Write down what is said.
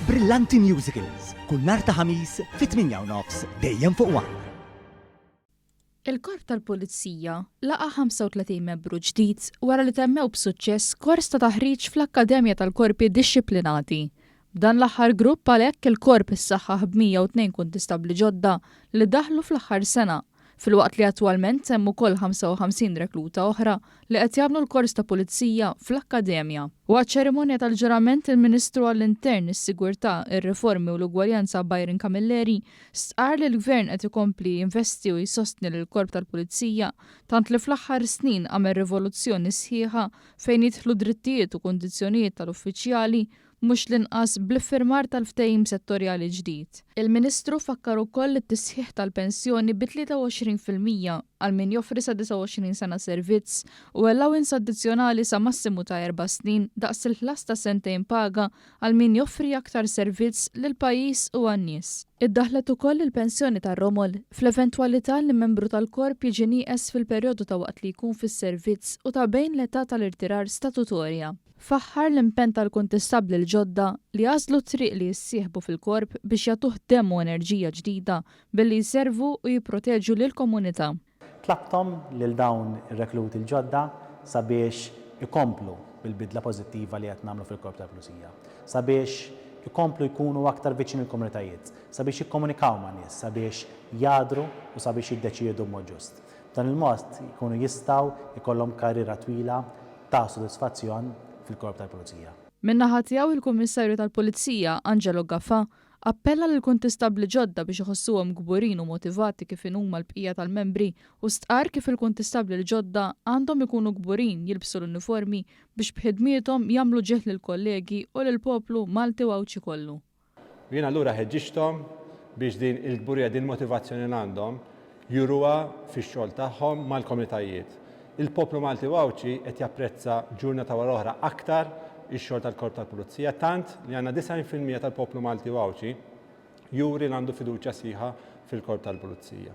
Brillanti Musicals, kull nhar ta' Ħamis fit-8:30, dejjem fuq one. Il-Korp tal-Pulizija laqa' 35 membru ġdid wara li temmew b'suċċess kors ta' taħriġ fl-Akkademja tal-Korpi Dixxiplinati. B'dan l-aħħar grupp għalhekk il-Korp issaħħaħ b' 102 kuntistabbli ġodda li daħlu fl-aħħar sena. filwaqt li attwalment hemm ukoll 55 rekluta oħra li qed jagħmlu l-kors ta' Pulizija fl-Akkademja. Waqt ċerimonja tal-ġurament il-Ministru għall-Intern, is-Sigurtà, ir-Riformi u l-Ugwaljanza Byron Camilleri stqarr li l-Gvern qed ikompli jinvesti u jsostni lill-Korp tal-Pulizija tant li fl-aħħar snin għamel rivoluzzjoni sħiħa fejn jidħlu drittijiet u kundizzjonijiet tal-uffiċjali mhux l-inqas bl-iffirmar tal-ftehim settorjali ġdid. Il-Ministru fakkar ukoll li t-tisħiħ tal-pensjoni bi 23 fil-mija għal min joffri sa 29 sena servizz u allowance addizzjonali sa massimu ta' erba' snin daqs il-ħlas ta' sentejn paga għal min joffri aktar servizz lill-pajjiż u għan-nies. Iddaħħlet ukoll il-pensjoni tar-romol fl-eventwalità li membru tal-Korp jiġi nieqes fil-perjodu ta' waqt li jkun fis-servizz u ta' bejn l-età tal-irtirar statutorja. Faħħar l-impenn tal-Kuntistabbli l-ġodda li għażlu t-triq li jissieħbu fil-Korp biex jagħtuh demm u enerġija ġdida billi jservu u jipproteġu lill-komunità. Tlabthom lil dawn ir-rekluti l-ġodda sabiex ikomplu bil-bidla pożittiva li qed nagħmlu fil-Korp tal-Pulizija, sabiex ikomplu jkunu aktar viċin il-komunitajiet, sabiex jikkomunikaw ma' nies, sabiex jagħdru u sabiex jiddeċiedu b'mod ġust. B'dan il-mod jkunu jistgħu jkollhom karriera twila ta' sodisfazzjon fil-Korp tal-Pulizija. Min-naħa tiegħu il-Kummissarju tal-Pulizija, Angelo Gafa, appella lill-kuntistabbli ġodda biex iħossuhom kburin u motivati kif inhu mal-bqija tal-membri u stqarr kif il-kuntistabbli l-ġodda għandhom ikunu kburin jilbsu l-uniformi biex b'ħidmiethom jagħmlu ġieħ lill-kollegi u lill-poplu Malti u Għawdxi kollu. U jien allura ħeġġiġthom biex din il-kburija, din il-motivazzjoni li għandhom juruha fix-xogħol tagħhom mal-komunitajiet. Il-poplu Malti u Għawdxi qed japprezza ġurnata wara oħra aktar ix-xogħol tal-Korp tal-Pulizija, tant li għandna 90 fil-mija tal-poplu Malti u Għawdxi juri li għandu fiduċja sħiħa fil-Korp tal-Pulizija.